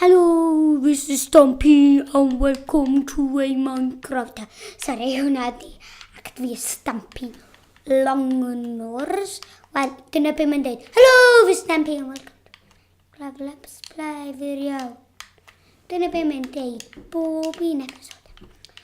Hello, this is Stompy and welcome to a Minecraft. Sorry, hwnna di. Ac dwi y Stompy Longnors. Wel, dyna beth mae'n dweud. Hello, this is Stompy and welcome to Gravel Up Splai Firiol. Dyna beth mae'n dweud bob un episod.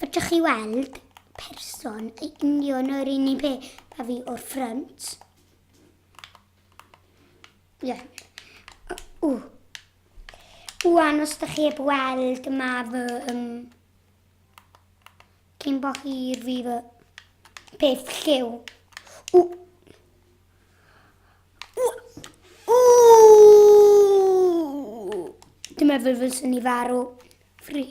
Fedrwch chi weld person yn union yr un un peth a fi o'r ffrynt. Yeah. O. Wan, os da chi heb weld, yma fy... Um, cyn bo hir fi fy peth lliw. O! O! O! Dwi'n meddwl fyswn i farw. Free.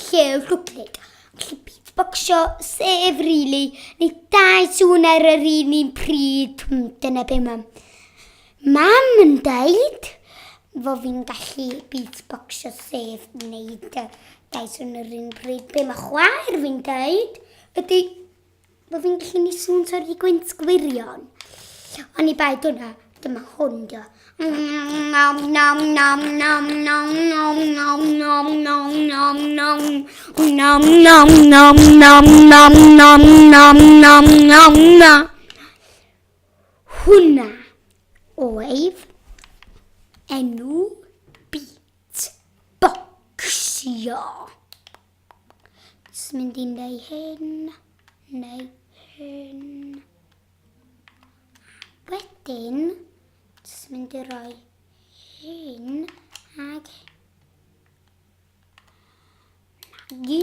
lle y rhwglyd, allu bydd bocsio, sef rili, neu dau sŵn ar yr un un pryd, hmm, dyna be mam. Mam yn dweud, fo fi'n gallu bydd bocsio, sef wneud dau sŵn ar yr un pryd, be mae chwaer fi'n dweud, ydy Mae fi'n gallu ni sŵn sori di gwynt gwirion. Ond i bai dyna, dyma hwn dio. Hwna oedd enw beat boxio. Jyst mynd i'n neu hyn, neu hyn. Wedyn, jyst mynd i roi hyn ag nagi.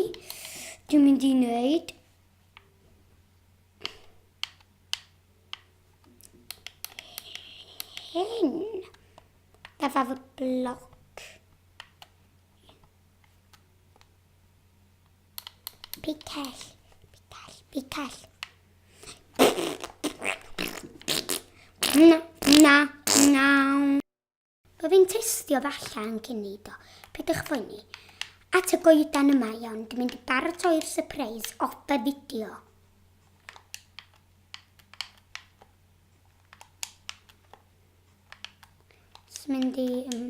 Dwi'n mynd i wneud hyn. Efo fy bloc. Picell. Picell. Picell. Na, na, na. Bydd fi'n testio falle yn cyn neud o. Pidwch fwyni. At y goedan yma iawn, dwi'n mynd i baratoi'r surprise o y fideo. Dwi'n mynd i... Um,